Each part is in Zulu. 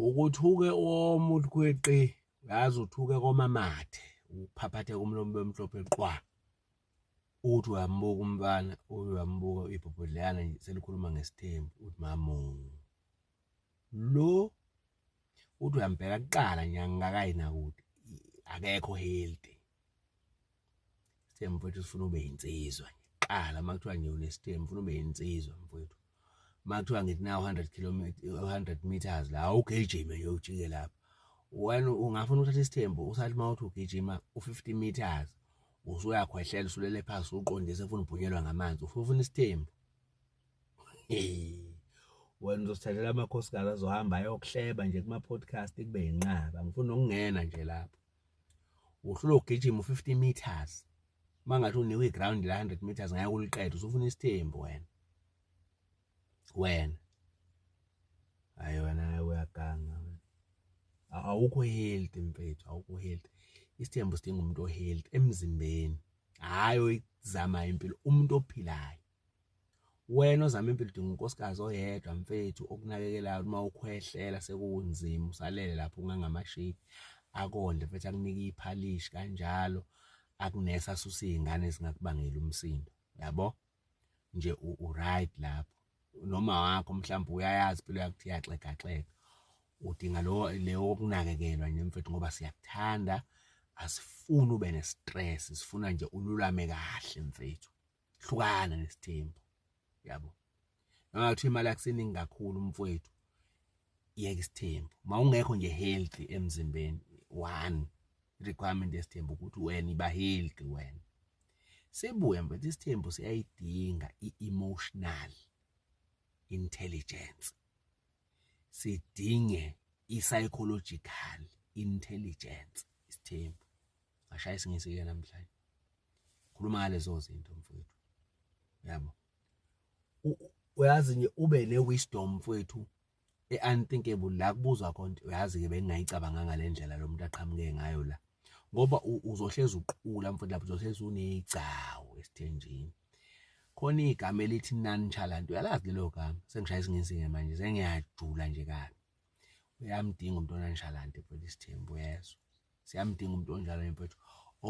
ukuthuke omuntu kweqi ngaze uthuke komamathe uphaphathe kumlomo bemhlophe qwa uthi uyambuka umfana uyambuka ibhobhodleyana nje selikhuluma ngesithembu uthi mamu lo uthi uyambheka kuqala nje angikakayi nakude akekho healthy Sithembe mfowethu sifuna ube yinsizwa ngiqala uma kuthiwa ngiyona esithembe ufuna ube yinsizwa mfowethu uma kuthiwa ngithi na 100 kilometer 100 meters la ugijime nje ujike lapha wena ungafuna ukuthatha isithembu usathi uma uthi ugijima u-50 meters usuyakhwehlela usulele phansi uqondise ufuna ubhunyelwa ngamanzi ufuna isithembu wena uzosithathela amakhosikazi azohamba ayokuhleba nje kuma-podcast kube yinqaba ngifuna ukungena nje lapho uhlula ugijima u-50 meters uma ngathi unikwe iground la 100 meters ngeke uliqede usufuna isithembu wena wena hayi wena uyaganga awukho healthy mfethu awukho healthy isithembu sidinga umuntu ohealthy emzimbeni hayi oyizama impilo umuntu ophilayo wena ozama impilo udinga unkosikazi oyedwa mfethu okunakekelayo uma ukhwehlela sekunzima usalele lapho ungangamashipi akondle mfethu akunike iphalishi kanjalo akunesa susa izingane zingakubangela umsindo yabo nje u right lapho noma wakho mhlawumbe uyayazi impilo yakuthiya yaxega xega udinga lo leyo okunakekelwa nje mfethu ngoba siyakuthanda asifuni ube nestress sifuna nje ululame kahle mfethu hlukana nesithembu yabo ngathi imali akuseningi kakhulu mfowethu yeka isithembu mawungekho nje healthy emzimbeni one requirement yesithembu ukuthi wena iba healthy wena sibuye mfethu isithembu siyayidinga i-emotional intelligence sidinge i-psychological intelligence isithembu ngashaya isingisi-ke namhlanje khuluma ngalezo zinto mfowethu yabo uyazi nje ube ne-wisdom mfowethu e-unthinkable la kubuzwa khona uyazi-ke bengingayicabanganga le ndlela lo muntu aqhamuke ngayo la ngoba uzohlezi uqula mfowethu lapho uzohlezi uneyigcawu esithenjini khona igama elithi nonchalant uyalazi lelo gama sengishaya isingensinge manje sengiyajula nje kabi uyamdinga umuntu ononchalant mfowethu isithembu yezwa siyamdinga umuntu onjalo mfethu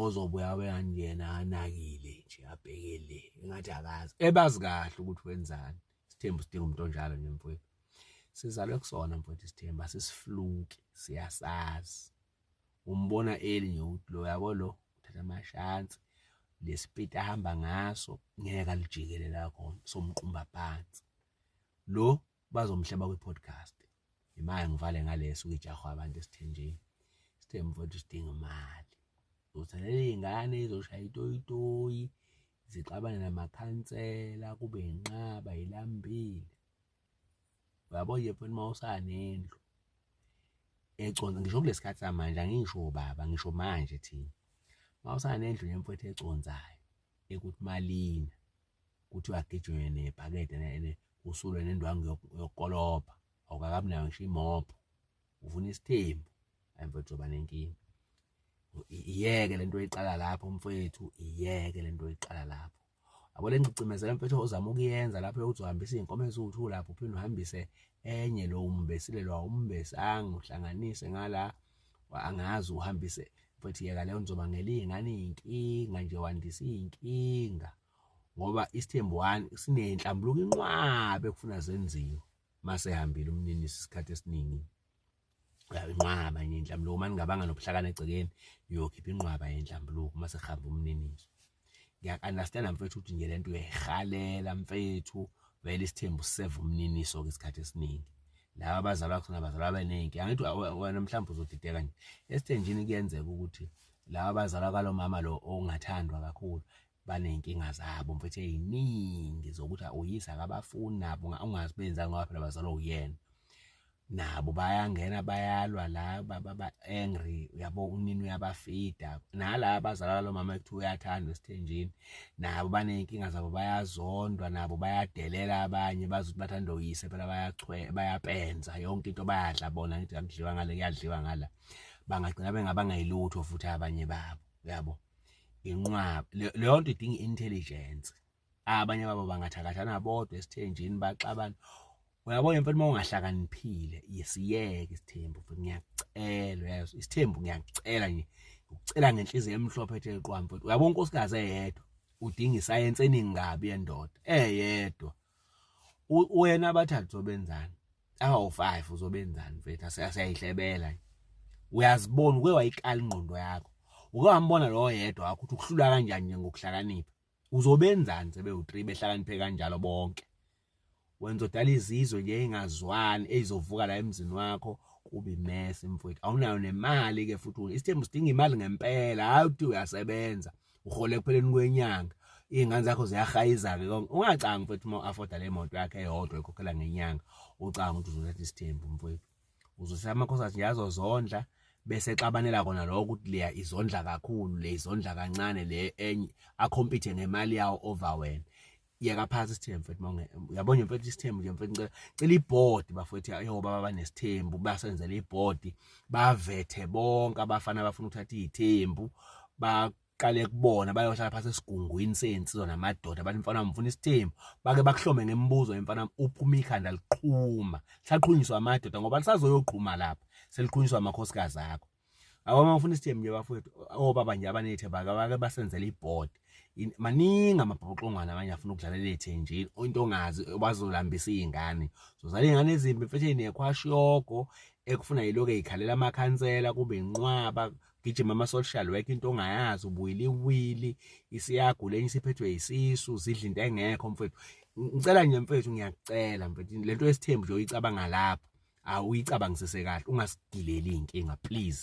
ozobuya weyangena anakile nje abhekele engathi akazi ebazi kahle ukuthi wenzani isithembu sidinga umuntu onjalo nje mfethu sizalwe kusona mfethu isithembu asisifluki siyasazi umbona eli nje ukuthi lo yabo lo uthatha amashansi lesipiti ahamba ngaso ngeke alijikele la khona somqumba phansi lo bazomhleba kwi podcast imali ngivale ngaleso ukujahwa abantu esithenjini sithe mfowethu sidinga imali uzithalela iy'ngane izoshaya itoyitoyi zixabane namakhansela kube yinqaba yilambile uyabo nje mfowethu uma usanendlu econsa ngisho kulesi khathi samanje angisho baba ngisho manje thina uma usanendlu nemfowethu econsayo ekuthi malina kuthiwa agijwe nebhakede usulwe nendwangu yokukolobha awukakabi nayo ngisho imobho ufuna isithembu ayimfethu uba nenkinga iyeke lento oyiqala lapho mfethu iyeke lento oyiqala lapho yabo le ngicimezela mfethu ozama ukuyenza lapho yokuthi uhambise iy'nkomo eziwu-two lapho uphinde uhambise enye lo umbesile lo awumbesi anguhlanganise ngala angazi uhambise mfethu yeka leyo ngizoba ngelinga ngane iy'nkinga nje wandisa iy'nkinga ngoba isithembu one sinenhlambuluko inqwabe kufuna zenziwe masehambile umnini isikhathi esiningi inqwaba enye inhlambuluko uma ningabanga nobuhlakani egcekeni uyokhipha inqwaba yenhlambuluko uma sehamba umniniso ngiyaku-understanda mfethu ukuthi nje le nto uyayihalela mfethu vele isithembu siseva umniniso-ke isikhathi esiningi laba abazalwa khona bazalwa beningi angithi wena mhlawumbe uzodideka nje esithenjini kuyenzeka ukuthi laba abazalwa kwalo mama lo ongathandwa kakhulu baney'nkinga zabo mfethu ey'ningi zokuthi uyise akabafuni nabo ungazi benzani ngoba phela bazalwa uyena nabo bayangena bayalwa la baba-angry uyabo unini uyabafida nala abazalala lo mama ekuthiwa uyathandwa esithenjini nabo baney'nkinga zabo bayazondwa nabo bayadelela abanye bazi ukuthi bathanda uyise phela bayapenza yonke into bayadla bona ngithi kakudliwa ngale kuyadliwa ngala bangagcina bengabangayilutho futhi abanye babo uyabo inqwaba leyo nto idinga intelligence abanye babo bangathakathana bodwa esithenjini baxabana uyabona mfana uma ungahlakaniphile yesiyeke isithembu futhi ngiyakucela uyazi isithembu ngiyakucela nje ngikucela ngenhliziyo emhlophe ethe qwa mfowethu uyabona unkosikazi eyedwa udinga isayense eningi kabi yendoda eyedwa wena abathathu zobenzani abawu-five uzobenzani mfethu asiyayihlebela uyazibona uke wayikala ingqondo yakho uke wambona lowo yedwa wakho ukuthi ukuhlula kanjani nje ngokuhlakanipha uzobenzani sebewu-three behlakaniphe kanjalo bonke wenza odala izizwe nje ey'ngazwani ey'zovuka la emzini wakho kubi mese mfowethu awunayo nemali-ke futhi isithembu sidinga imali ngempela hhayi ukuthi uyasebenza uhola ekupheleni kwenyanga iy'ngane zakho ziyahayiza-ke konke ungacangi mfethu uma u-afoda le moto yakhe eyodwa ekhokhela ngenyanga ucanga ukuthi uzothatha isithembu mfethu uzothatha amakhosi athi nje azozondla bese exabanela kona lokho ukuthi leya izondla kakhulu le izondla kancane le enye akhompithe ngemali yawo over wena yeka phansi isithembu mfethu mawunge uyabona nje mfethu isithembu nje mfethu ngicela cela ibhodi bafethu ayo baba banesithembu basenzele ibhodi bavethe bonke abafana abafuna ukuthatha izithembu baqale kubona bayohlala phansi esigungwini sensizwa namadoda bathi mfana mfuna isithembu bake bakuhlome ngemibuzo emfana uphuma ikhanda liqhuma saqhunyiswa amadoda ngoba lisazoyoqhuma lapha seliqhunyiswa amakhosikazi akho awama ufuna isithembu nje bafowethu obaba nje abanethemba akabake basenzele iboard maningi amabhoxongwana abanye afuna ukudlalela ethenjini into ongazi bazolambisa izingane zozala izingane ezimbi mfethu nekhwashogo ekufuna yiloke ikhalela amakhansela kube inqwaba gijima ama social work into ongayazi ubuyili wili isiyagula enye isiphethwe isisu zidla into engekho mfethu ngicela nje mfethu ngiyacela mfethu lento yesithembu nje uyicabanga lapho awuyicabangisise kahle ungasigileli inkinga please